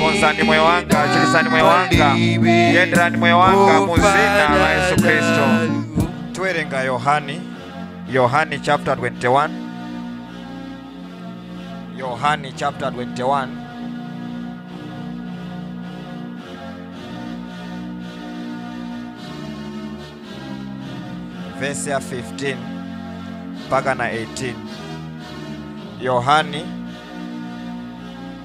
konzani moyo wanga chiritsani moyo wanga yenderani moyo wanga mu zina la yesu khristu tiwerenga yohani yohani chapter 21 yohani chapter 21 verse ya 15 mpaka na 18 yohani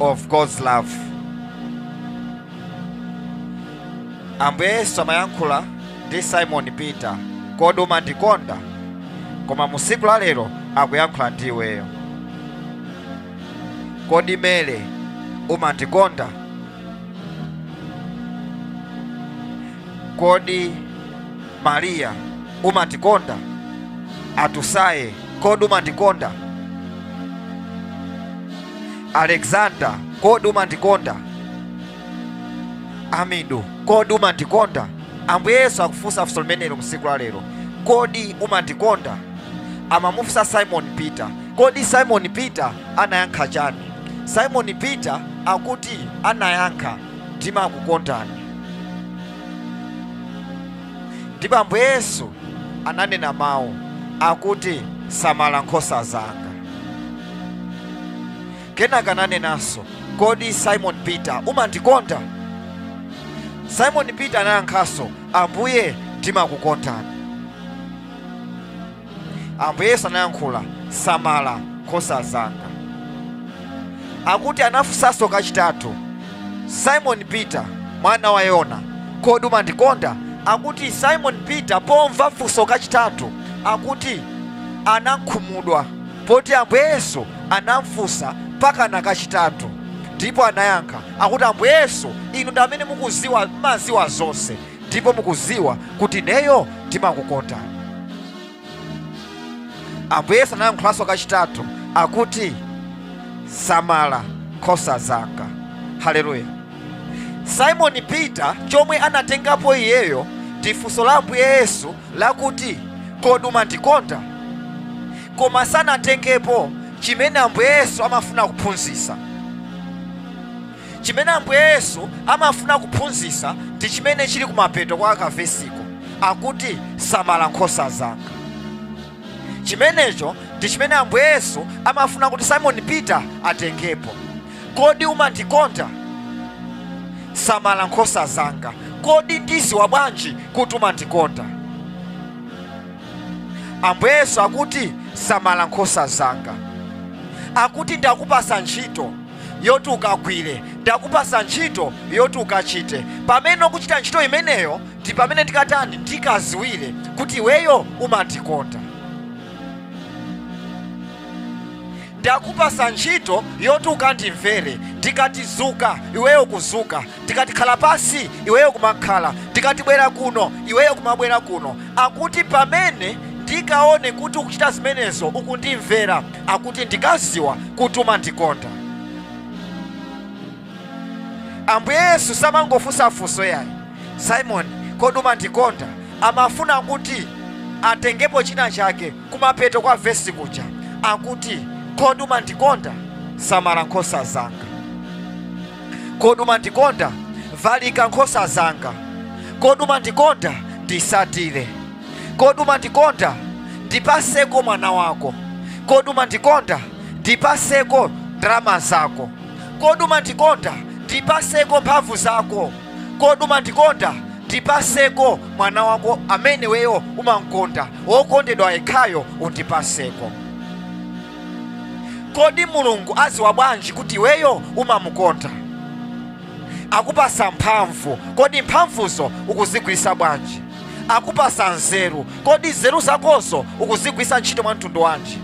of God's love. Ambuye Yesu amayankhula ndi Simon Peter, kodi umandikonda? Koma mu siku la lero akuyankhula ndi iweyo. Kodi Mele umandikonda? Kodi Maria, umandikonda? Atusaye, kodi umandikonda? Alexander, kodi umandikonda? Amidu, kodi umandikonda? Ambuye Yesu akufunsa funso limenelo msiku la lero. Kodi umandikonda? Amamufunsa Simon Peter. Kodi Simon Peter anayankha chani? Simon Peter akuti anayankha, ndimakukondani. Ndipo Ambuye Yesu ananena mawu akuti, Samala nkhosa zanga. Kenaka ananenanso, Kodi Simon Peter umandikonda? Simon Peter anayankhanso, Ambuye, ndimakukondani. Ambuye Yesu anayankhula, Samala nkhosa zanga. Akuti anafunsanso kachitatu, Simon Peter, mwana wa Yona, kodi umandikonda? Akuti Simon Peter pomva funso kachitatu, akuti anakhumudwa poti Ambuye Yesu anamfunsa pakana kachitatu ndipo anayankha akuti, Ambuye Yesu, inu ndi amene mukuziwa, mumaziwa zonse, ndipo mukuziwa kuti ineyo ndimakukonda ambuye yesu anayankhulanso kachitatu akuti samala nkhosa zanga haleluya simoni peter chomwe anatengapo iyeyo ndi funso la ambuye yesu lakuti kodi umandikonda koma sanatengepo chimene ambuye yesu amafuna kuphunzitsa Chimene Ambuye Yesu amafuna kuphunzitsa ndi chimene chili kumapeto kwa kavesiko, akuti, Samala nkhosa zanga. Chimenecho ndi chimene Ambuye Yesu amafuna kuti Simon Peter atengepo. Kodi umandikonda? Samala nkhosa zanga. Kodi ndiziwa bwanji kuti umandikonda? Ambuye Yesu akuti, Samala nkhosa zanga. Akuti, Ndakupasa ntchito. yoti ukagwire, ndakupasa ntchito yoti ukachite. Pamene ukuchita ntchito imeneyo, ndi pamene ndikatani, ndikaziwire kuti iweyo umandikonda. Ndakupasa ntchito yoti ukandimvere, ndikati zuka, iweyo kuzuka, ndikati khala pansi, iweyo kumakhala, ndikati bwera kuno, iweyo kumabwera kuno. Akuti pamene ndikaone kuti ukuchita zimenezo, ukundimvera. akuti ndikaziwa kuti umandikonda ambuye yesu samangofunsa funso yayi simoni kodi umandikonda amafuna kuti atengepo china chake kumapeto kwa vesi kuja akuti kodi umandikonda samala nkhosa zanga kodi umandikonda valika nkhosa zanga kodi umandikonda ndisatire kodi umandikonda ndipaseko mwana wako kodi umandikonda ndipaseko ndalama zako kodi umandikonda ndipaseko mphamvu zako kodi umandikonda ndipaseko mwana wako amene weyo umamkonda wokondedwa yekhayo undipaseko kodi mulungu aziwa bwanji kuti iweyo umamukonda akupasa mphamvu kodi mphamvuzo ukuzigwirisa bwanji akupasa nzeru kodi nzeru zakozo ukuzigwirisa ntchito mwa mtundu wanji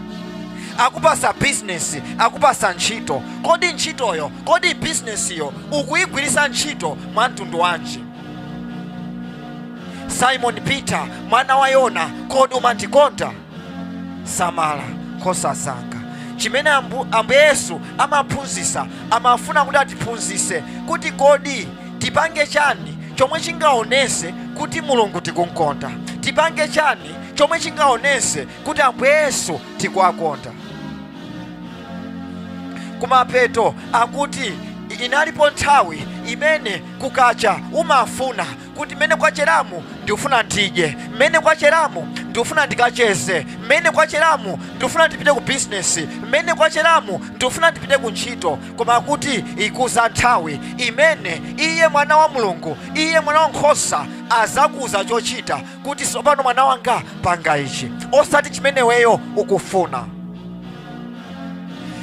akupasa bizinesi akupasa ntchito kodi ntchitoyo kodi bizinesiyo ukuyigwirisa ntchito mwa mtundu wanji simon peter mwana wa yona kodi umandikonda samala nkhosa zanga chimene ambuye yesu amaphunzisa amafuna kuti atiphunzise kuti kodi tipange chani chomwe chingaonese kuti mulungu tikunkonda tipange chani chomwe chingaonese kuti ambuye yesu tikuwakonda kumapeto akuti inalipo nthawi imene kukacha umafuna kuti mmene kwacheramu ndikufuna ndidye mmene kwacheramu ndikufuna ndikacheze mmene kwacheramu ndikufuna ndipite ku bizinesi mmene kwacheramu ndikufuna ndipite ku ntchito koma kuti ikuza nthawi imene iye mwana wa mulungu iye mwana wa nkhosa azakuuza chochita kuti tsopano mwana wanga panga ichi osati chimene weyo ukufuna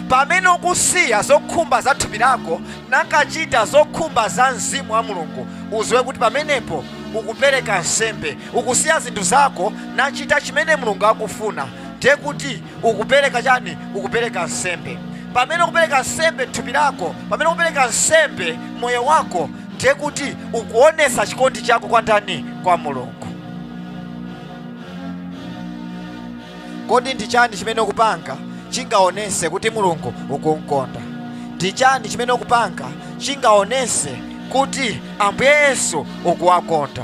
pamene ukusiya zokhumba za thupi lako nakachita zokhumba za mzimu wa mulungu uziwe kuti pamenepo ukupereka nsembe ukusiya zinthu zako nachita chimene mulungu akufuna ndiye kuti ukupereka chani ukupereka nsembe pamene ukupereka nsembe thupi lako pamene ukupereka nsembe moyo wako ndiye kuti ukuonesa chikondi chako kwa ndani kwa mulungu kodi ndi chani chimene ukupanga chingaonese kuti mulungu ukumkonda ndi chani chimene ukupanga chingaonese kuti ambuye yesu ukuwakonda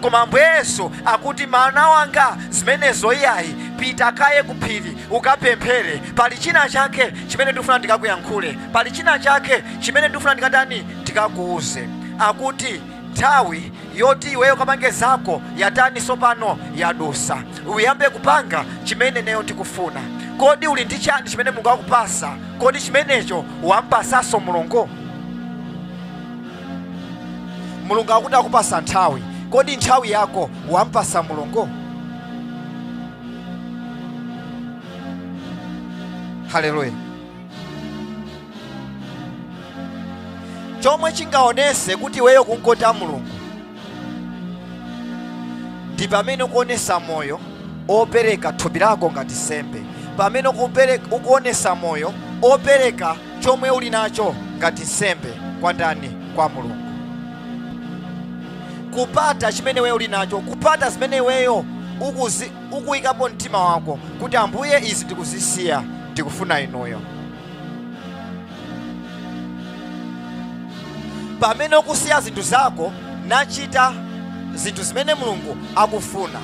Koma Ambuye Yesu akuti, Mwana Wanga, zimenezo iyayi. Pita kaye ku phiri, ukapemphere. Pali chinachake chimene ndikufuna ndikakuyankhule. Pali chinachake chimene ndikufuna ndikatani? Ndikakuuze. Akuti, Nthawi yoti iweyo ukapange zako yatani tsopano? Yadusa. Uyambe kupanga chimene ineyo ndikufuna. Kodi uli ndi chani chimene Mulungu wakupasa? Kodi chimenecho wampatsanso Mulungu? mulungu akuti akupasa nthawi kodi nthawi yako wampasa mulungu haleluya chomwe chingaonese kuti iweyo kunkota mulungu ndi pamene ukuonesa moyo opereka thupi lako ngati nsembe pamene ukupere- ukuonesa moyo opereka chomwe uli nacho ngati nsembe kwa ndani kwa mulungu kupata chimene iweyo uli nacho kupata zimene iweyo ukuzi- ukuyikapo mtima wako kuti ambuye izi ndikuzisiya ndikufuna inuyo pamene ukusiya zinthu zako nachita zinthu zimene mulungu akufuna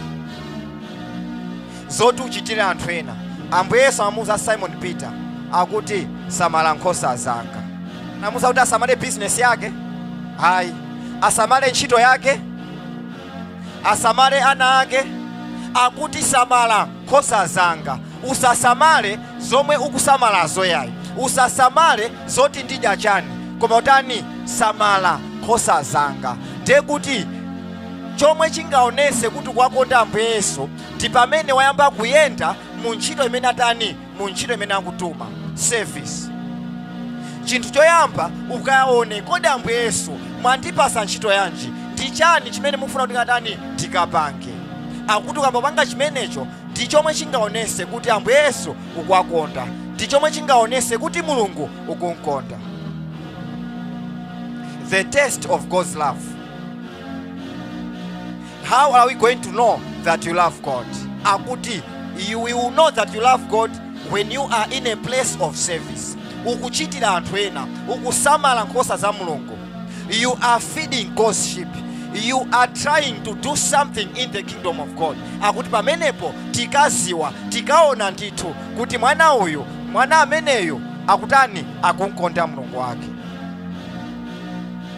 zoti uchitire anthu ena ambuye yesu amamuuza simon peter akuti samala nkhosa zanga namuuza kuti asamale bizinesi yake ayi asamale ntchito yake asamale ana ake akuti samala nkhosa zanga usasamale zomwe ukusamalazo yayi usasamale zoti ndidya chani koma utani samala nkhosa zanga ndiye kuti chomwe chingaonese kuti kwakonda ambuye yesu ndi pamene wayamba kuyenda mu ntchito imene atani mu ntchito imene akutuma service chinthu choyamba ukayaone kodi ambuye yesu mwandipasa ntchito yanji ndi chani chimene mukufuna kuti ndikatani ndikapange akuti ukamapanga chimenecho ndi chomwe chingaonese kuti ambuye yesu ukuwakonda ndi chomwe chingaonese kuti mulungu ukumkonda the test of god's love How are we going to know that you love God? Akuti you will know that you love God when you are in a place of service. Ukuchitira anthu ena, ukusamala nkhosa za Mulungu. You are feeding God's sheep. You are trying to do something in the kingdom of God. Akuti pamenepo tikaziwa, tikaona ndithu kuti mwana uyu, mwana ameneyu akutani akumkonda Mulungu wake.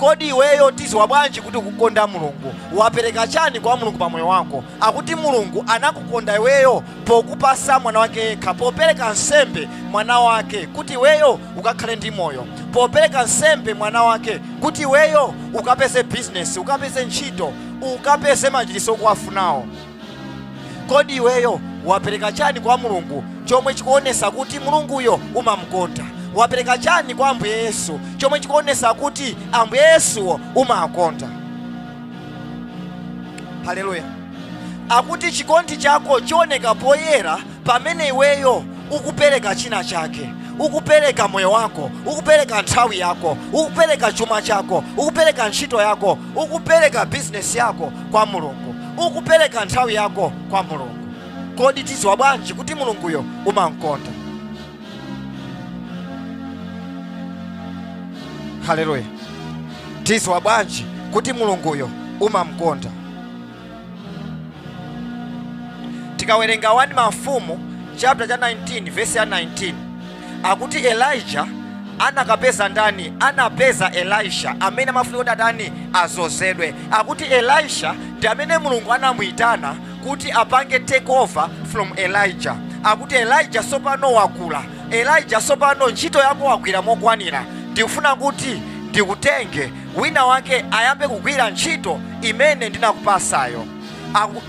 kodi iweyo tiziwa bwanji kuti ukukonda mulungu wapereka chani kwa mulungu pa moyo wako akuti mulungu anakukonda iweyo pokupasa mwana wake yekha popereka nsembe mwana wake kuti iweyo ukakhale ndi moyo popereka nsembe mwana wake kuti iweyo ukapeze bizinesi ukapeze ntchito ukapeze machiritso okuwafunawo Kodi iweyo wapeleka chani kwa Mulungu chomwe chikuonesa kuti Mulunguyo umamukonda? Wapeleka chani kwa Ambuye Yesu chomwe chikuonesa kuti Ambuye Yesuwo umawakonda? Haleluya! Akuti chikondi chako chioneka poyera Pamene iweyo ukupereka china chake, ukupereka moyo wako, ukupereka nthawi yako, ukupereka chuma chako, ukupereka ntchito yako, ukupereka bizinesi yako kwa Mulungu, ukupereka nthawi yako kwa Mulungu, kodi tiziwa bwanji kuti Mulunguyo umamkonda? Haleluya! tiziwa bwanji kuti Mulunguyo umamkonda? tikawerenga 1 mafumu chapter cha 19 vesi ya 19 akuti elijah anakapeza ndani anapeza elisha amene amafuna kuti atani azozedwe akuti elisha ndi amene mulungu anamuyitana kuti apange take over from elijah akuti elijah sopano wakula elijah sopano ntchito yako wagwira mokwanira ndikufuna kuti ndikutenge Winawake ayambe kugwira ntchito imene ndinakupasayo.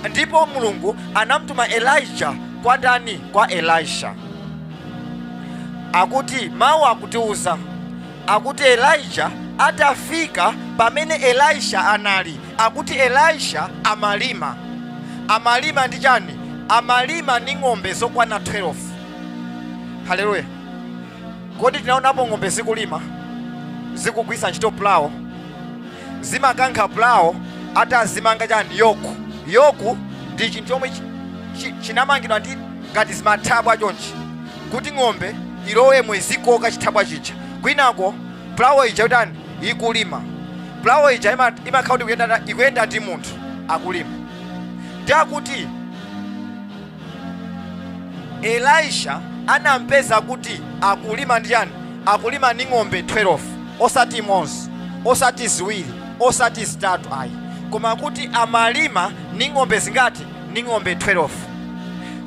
Ndipo Mulungu anamtuma Elijah kwa ndani? Kwa Elisha. Akuti mawu akutiuza akuti Elijah atafika pamene Elisha anali, akuti Elisha amalima. Amalima ndi chani? Amalima ni ng'ombe zokwana 12. Haleluya! Kodi tinaonapo ng'ombe zikulima, zikugwisa ntchito pulawo? Zimakankha pulawo atazimanga chani? Yoku. Yoku ndi chinthu chomwe chinamangidwa ndi ngati zimathabwa chonchi kuti ng'ombe ilowemo izikoka chithabwa chija kwinako pulawo ija itani ikulima. Pulawo ija imakhala kuti ikuyenda- ikuyenda ndi munthu akulima ndi akuti Elijah anampeza kuti akulima ndi chani? Akulima ni ng'ombe 12, osati imodzi, osati ziwiri, osati zitatu ayi, koma kuti amalima ni ng'ombe zingati? Ni ng'ombe 12.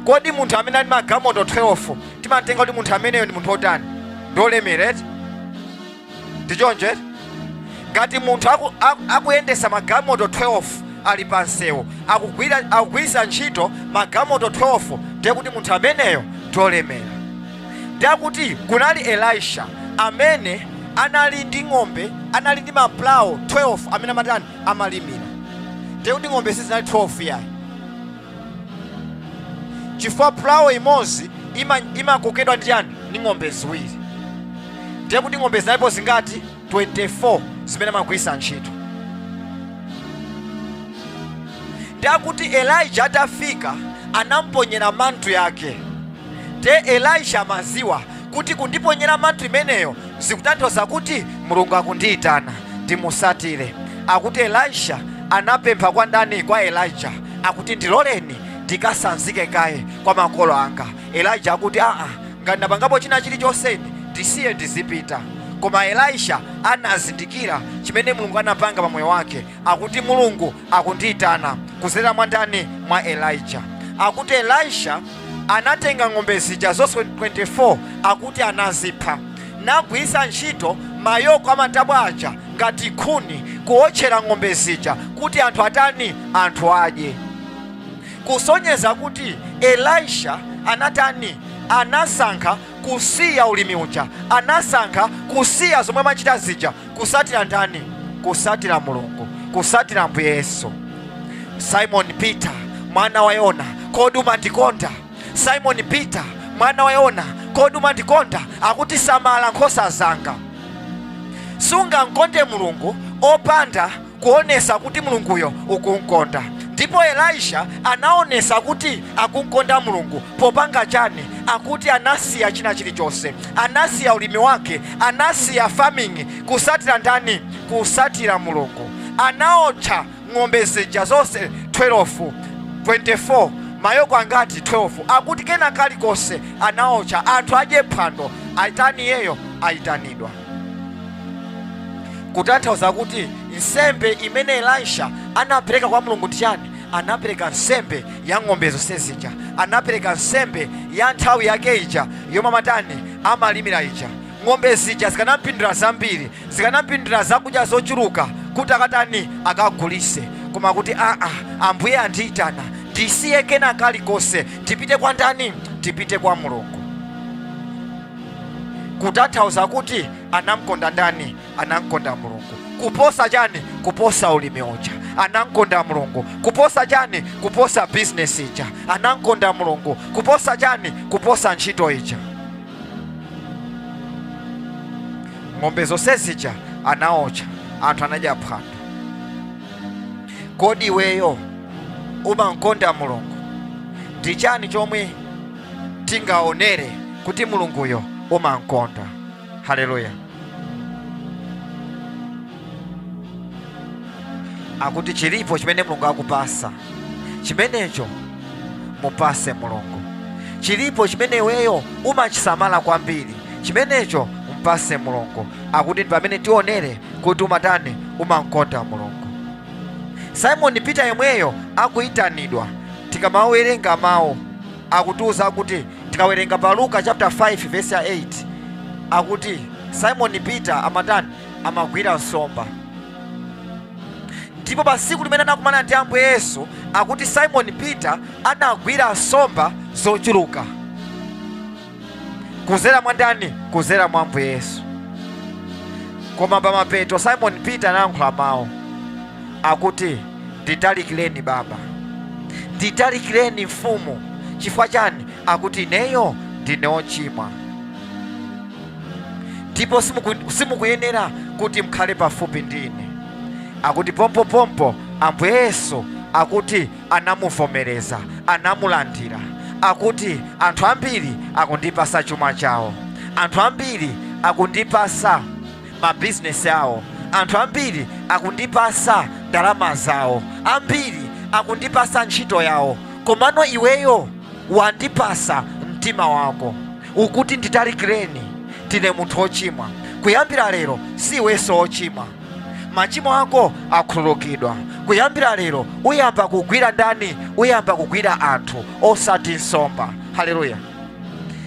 Kodi munthu amene ali ni magalimoto 12 timamtenga kuti munthu ameneyo ndi munthu otani? Ndi olemera eti? ndi choncho eti ngati munthu aku- aku- akuyendesa magamoto 12 ali pa msewu akugwira- akugwiritsa ntchito magamoto 12 ndiye kuti munthu ameneyo ndolemera ndiye kuti kunali elisha amene anali ndi ng'ombe anali ndi mapulawo 12 amene amatani amalimira ndiye kuti ng'ombe sizinali 12 yayi chifukwa pulawo imodzi ima- imakokedwa ndi chani ndi ng'ombe ziwiri ndiye kuti ng'ombe zinalipo zingati 24 zimene amagwiritsa ntchito ndiye kuti elija atafika anamponyera mantu yake ndiye elisha amaziwa kuti kundiponyera mantu imeneyo zikutanthauza kuti mulungu akundiitana ndimusatire akuti elisha anapempha kwa ndani kwa elijah akuti ndiloleni ndikasanzike kaye kwa makolo anga elijah akuti aa ngati ndapangapo china chilichonse ndisiye ndizipita koma elisha anazindikira chimene mulungu anapanga pa moyo wake akuti mulungu akundiitana kuzera mwa ndani mwa elijah akuti elisha anatenga ng'ombe zija zonse 24 akuti anazipha nagwiritsa ntchito mayoko amatabwa aja ngati nkhuni kuwotchera ng'ombe zija kuti anthu atani anthu adye kusonyeza kuti elisha anatani anasankha kusiya ulimi uja anasankha kusiya zomwe amachita zija kusatira ndani kusatira mulungu kusatira ambuye yesu simon peter mwana wa yona kodi umandikonda simon peter mwana wa yona kodi umandikonda akuti samala nkhosa zanga sungamkonde mulungu opanda kuonesa kuti Mulunguyo ukum'konda. Ndipo Elisha anaonesa kuti akum'konda Mulungu popanga chani? Akuti anasiya china chilichonse. Anasiya ulimi wake, anasiya farming, kusatira ndani? Kusatira Mulungu. Anaotcha ng'ombe zija zonse 12, 24, mayoko angati? 12. Akuti kena kalikonse anaotcha. Anthu adye phwando, atani iyeyo? Ayitanidwa. kutanthauza kuti nsembe imene elisha anapereka kwa mulungu ndi chani anapereka nsembe ya ng'ombe zonse zija anapereka nsembe ya nthawi yake ija yomwe amatani amalimira ija ng'ombe zija zikanampindulira zambiri zikanampindulira zakudya zochuluka kuti akatani akagulise koma kuti aa ambuye andiyitana ndisiye kena kalikonse ndipite kwa ndani ndipite kwa mulungu kutanthauza kuti anamkonda ndani anamkonda mulungu kuposa chani kuposa ulimi uja anamkonda mulungu kuposa chani kuposa bizinesi ija anamkonda mulungu kuposa chani kuposa ntchito ija ng'ombe zonse zija anaocha anthu anadya phwando kodi iweyo umankonda mulungu ndi chani chomwe tingaonere kuti mulunguyo umamkonda haleluya akuti chilipo chimene mulungu akupasa chimenecho mupase mulungu chilipo chimene iweyo umachisamala kwambiri chimenecho mpase mulungu akuti ndi pamene tionere kuti umatani umamkonda mulungu simoni peter yemweyo akuyitanidwa tikamawerenga mawu akutiuza kuti tikawerenga pa luka chapter 5 verse 8 akuti simon peter amatani amagwira nsomba ndipo pa tsiku limene anakumana ndi ambuye yesu akuti simon peter anagwira nsomba zochuluka kuzera mwa ndani kuzera mwa ambuye yesu koma pamapeto simon peter anayankhula mawu akuti nditalikireni baba nditalikireni mfumu chifukwa chani akuti ineyo ndine ochimwa ndipo simukuyenera kuti mkhale pafupi ndi ine akuti pompopompo ambuye yesu akuti anamuvomereza, anamulandira. Akuti, Anthu ambiri akundipasa chuma chawo. Anthu ambiri akundipasa mabizinesi awo. Anthu ambiri akundipasa ndalama zawo. Ambiri akundipasa ntchito yawo. Komano iweyo wandipasa mtima wako. Ukuti nditalikireni, ndine munthu wochimwa. Kuyambira lero si iwenso wochimwa. machimo ako akhululukidwa kuyambira lero uyamba kugwira ndani uyamba kugwira anthu osati nsomba haleluya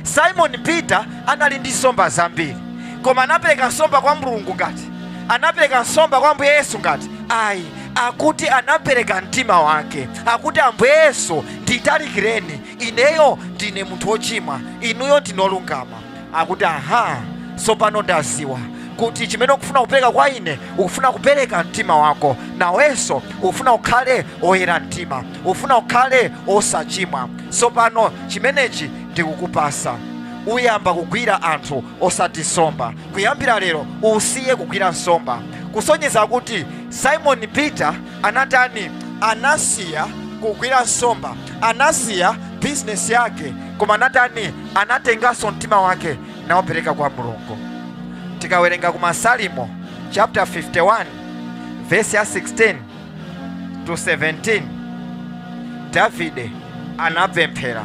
simoni peter anali ndi nsomba zambiri koma anapereka nsomba kwa mulungu ngati anapereka nsomba kwa ambuye yesu ngati ayi akuti anapereka mtima wake akuti ambuye yesu nditalikireni ineyo ndine munthu wochimwa inuyo ndinolungama akuti aha tsopano ndaziwa kuti chimene ukufuna kupereka kwa ine ukufuna kupereka mtima wako nawenso ukufuna ukhale oyera mtima ukufuna ukhale osachimwa tsopano chimenechi ndikukupasa uyamba kugwira anthu osati nsomba kuyambira lero usiye kugwira nsomba kusonyeza kuti simoni peter Anatani? Anasiya kugwira nsomba, anasiya bizinesi yake, koma anatani? Anatenganso mtima wake nawupereka kwa Mulungu. Tikawerenga ku Masalimo chapter 51 verse ya 16 to 17, Davide anapemphera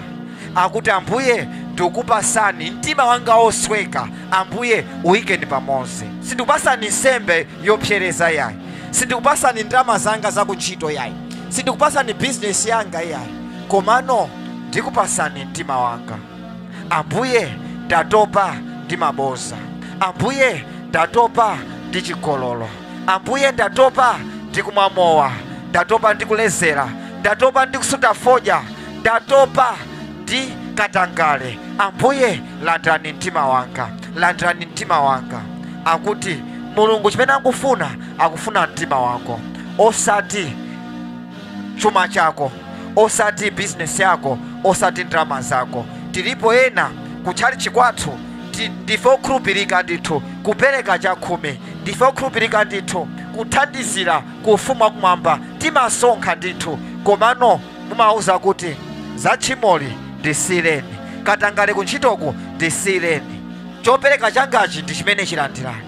akuti, Ambuye ndikupasani mtima wanga wosweka, Ambuye uyikeni pamodzi, sindikupasani nsembe yopsereza yayi Sindikupasani ndalama zanga za kuntchito yayi. Sindikupasani bizinesi yanga iyayi. Komano ndikupasani mtima wanga. Ambuye, ndatopa ndi maboza. Ambuye, ndatopa ndi chigololo. Ambuye, ndatopa ndi kumwa mowa. Ndatopa ndi kulezera. Ndatopa ndi kusuta fodya. Ndatopa ndi katangale. Ambuye, landirani mtima wanga. landirani mtima wanga akuti mulungu chimene akufuna akufuna mtima wako osati chuma chako osati bizinesi yako osati ndalama zako tilipo ena kutchalitchi kwathu ndife okhulupirika ndithu kupereka chakhumi ndife okhulupirika ndithu kuthandizira ku ufumu wakumwamba timasonkha ndithu komano mumawauza kuti za tchimoli ndisiyireni, katangale kuntchitoku ndisiyireni, chopereka changachi ndi chimenechi landirani,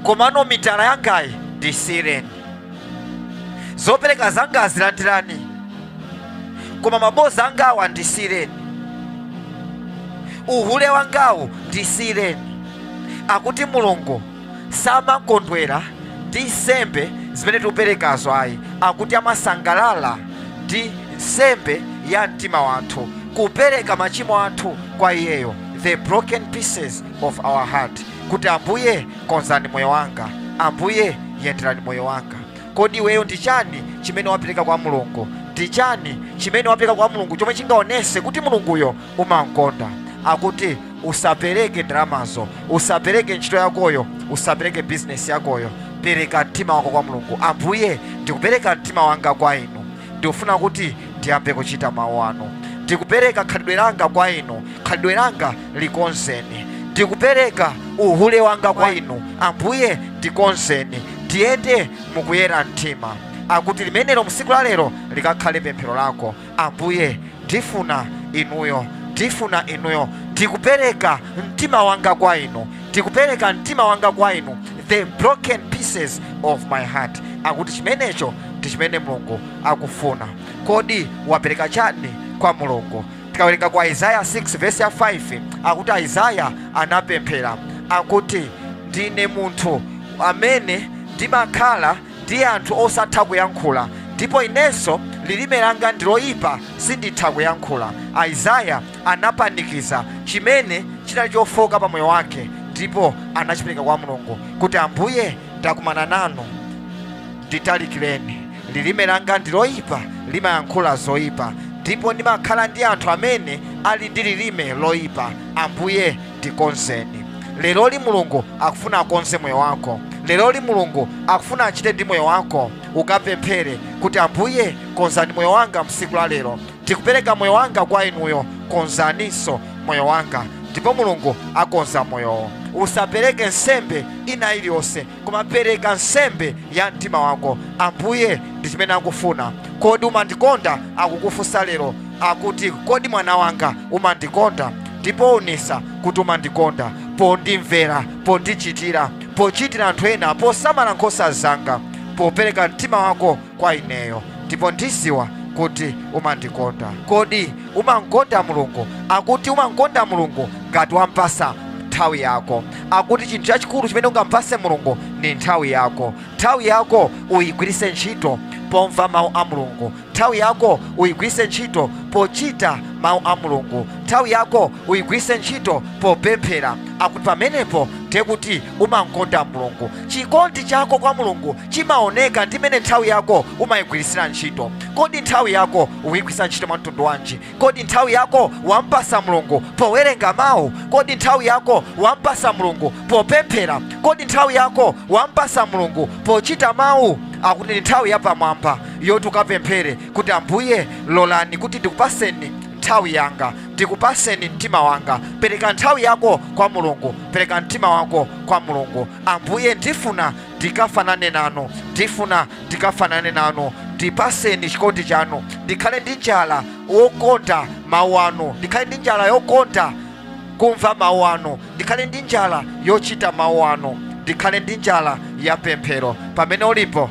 komano mitala yangayi ndisiyireni, zopereka zangazi landirani, koma maboza angawa ndisiyireni, uhule wangawu ndisiyireni, akuti Mulungu. samakondwera ndi nsembe zimene tikuperekazo ayi, akuti amasangalala ndi nsembe ya mtima wathu, kupereka machimo athu kwa iyeyo, the broken pieces of our heart, kuti Ambuye konzani moyo wanga, Ambuye yenderani moyo wanga. Kodi iweyo ndi chani chimene wapereka kwa Mulungu? Ndi chani chimene wapereka kwa Mulungu chomwe chingaonese kuti Mulunguyo umamkonda akuti usapereke ndalamazo usapereke ntchito yakoyo usapereke bizinesi yakoyo pereka mtima wako kwa mulungu ambuye ndikupereka mtima wanga kwa inu ndikufuna kuti ndiyambe kuchita mawu anu ndikupereka khalidwe langa kwa inu khalidwe langa likonzeni ndikupereka uhule wanga kwa inu ambuye ndikonzeni ndiyende mukuyera mtima akuti limenelo msiku la lero likakhale pemphero lako Ambuye, ndifuna Inuyo, ndifuna Inuyo. Ndikupereka mtima wanga kwa Inu, ndikupereka mtima wanga kwa Inu, the broken pieces of my heart. Akuti chimenecho ndi chimene Mulungu akufuna. Kodi wapereka chani kwa Mulungu? Tikawerenga kwa Isaiah 6 verse ya 5 akuti Isaiah anapemphera akuti ndine munthu amene ndimakhala ndi anthu osatha kuyankhula, ndipo inenso lilime langa ndi loyipa, sinditha kuyankhula. Isaiah anapanikiza chimene chinali chofooka pa moyo wake ndipo anachipereka kwa Mulungu kuti, Ambuye, ndakumana nanu, nditalikireni. Lilime langa ndi loyipa, limayankhula zoyipa, ndipo ndimakhala ndi anthu amene ali ndi lilime loyipa. Ambuye, ndikonzeni leroli mulungu akufuna akonze moyo wako leroli mulungu akufuna achite ndi moyo wako ukapemphere kuti ambuye konzani moyo wanga msiku la lero ndikupereka moyo wanga kwa inuyo konzaninso moyo wanga ndipo mulungu akonza moyowo usapereke nsembe ina iliyonse Koma pereka nsembe ya mtima wako. Ambuye, ndi chimene akufuna. Kodi umandikonda? Akukufunsa lero. Akuti, Kodi mwana wanga, umandikonda? Ndipo wonesa kuti umandikonda pondimvera, pondichitira, pochitira anthu ena, posamala nkhosa zanga, popereka mtima wako kwa ineyo ndipo ndiziwa kuti umandikonda kodi umankonda mulungu akuti umankonda mulungu ngati wampasa nthawi yako akuti chinthu chachikulu chimene ungampase mulungu ndi nthawi yako nthawi yako uyigwiritse ntchito pomva mawu a mulungu nthawi yako uyigwiritse ntchito pochita mawu a mulungu nthawi yako uyigwiritse ntchito popemphera akuti pamenepo ndiye kuti umankonda mulungu Chikondi chako kwa Mulungu chimaoneka ndi mmene nthawi yako umayigwiritsira ntchito. Kodi nthawi yako ukuyigwiritsa ntchito mwa mtundu wanji? Kodi nthawi yako wampasa Mulungu powerenga Mawu? Kodi nthawi yako wampasa Mulungu popemphera? Kodi nthawi yako wampasa Mulungu pochita Mawu? Akuti ndi nthawi yapamwamba yoti ukapemphere kuti, Ambuye, lolani kuti ndikupaseni nthawi yanga, ndikupaseni mtima wanga. Pereka nthawi yako kwa Mulungu, pereka mtima wako. kwa mulungu ambuye ndifuna ndikafanane nanu ndifuna ndikafanane nanu ndipaseni chikondi chanu ndikhale ndi njala wokonda mawu anu ndikhale ndi njala yokonda kumva mawu anu ndikhale ndi njala yochita mawu anu ndikhale ndi njala ya pemphero pamene ulipo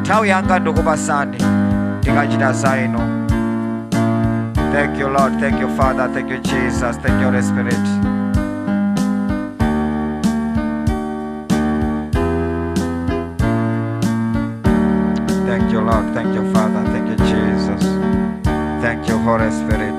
nthawi yanga ndikupasani ndikachita za inu thank you lord thank you father thank you jesus thank you holy spirit thank you lord thank you father thank you jesus thank you holy spirit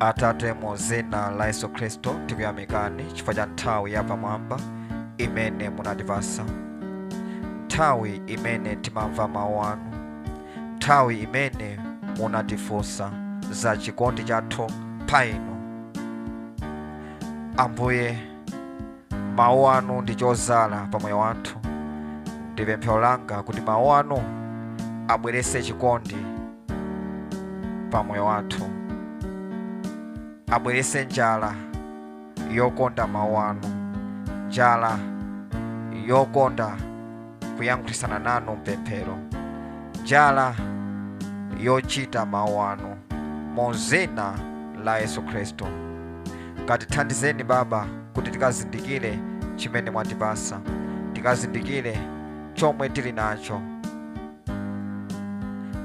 atate mu dzina la yesu khristu tikuyamikani chifukwa cha nthawi yapamwamba imene munatipasa nthawi imene timamva mawu anu nthawi imene munatifunsa za chikondi chathu pa inu ambuye mawu anu ndi chozala pa moyo wathu ndi pemphero langa kuti mawu anu abwerese chikondi pa moyo wathu abwerese njala yokonda mawu anu njala yokonda kuyankhulisana nanu mpemphero njala yochita mawu anu mu zina la yesu khristu katithandizeni baba kuti tikazindikire chimene mwatipasa tikazindikire chomwe tili nacho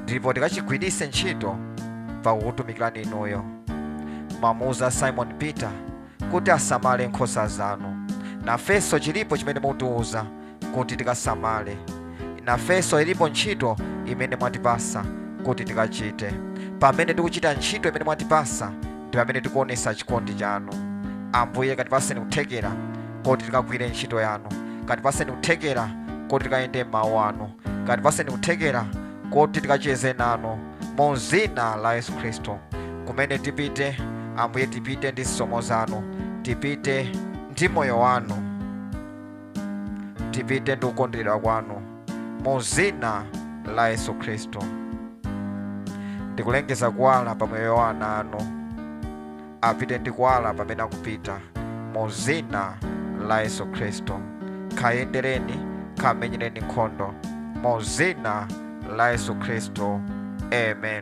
ndipo tikachigwiritse ntchito pakukutumikirani inuyo mwamuuza simon peter kuti asamale nkhosa zanu nafenso chilipo chimene mukutiuza kuti tikasamale nafenso ilipo ntchito imene mwatipasa kuti tikachite pamene tikuchita ntchito imene mwatipasa ndi pamene tikuonesa chikondi chanu ambuye katipaseni kuthekera koti tikagwire ntchito yanu katipaseni kuthekera koti tikayende mmawu anu katipatseni kuthekera koti tikacheze nanu mu zina la yesu khristu kumene tipite ambuye tipite ndi zisomo zanu tipite ndi moyo wanu tipite ndi kukonderedwa kwanu mu zina la yesu khristu ndikulengeza kuwala pa moyo wa ana anu apite ndi kuwala pamene akupita mu zina la yesu khristu kayendereni kamenyereni nkhondo mu zina la yesu khristu amen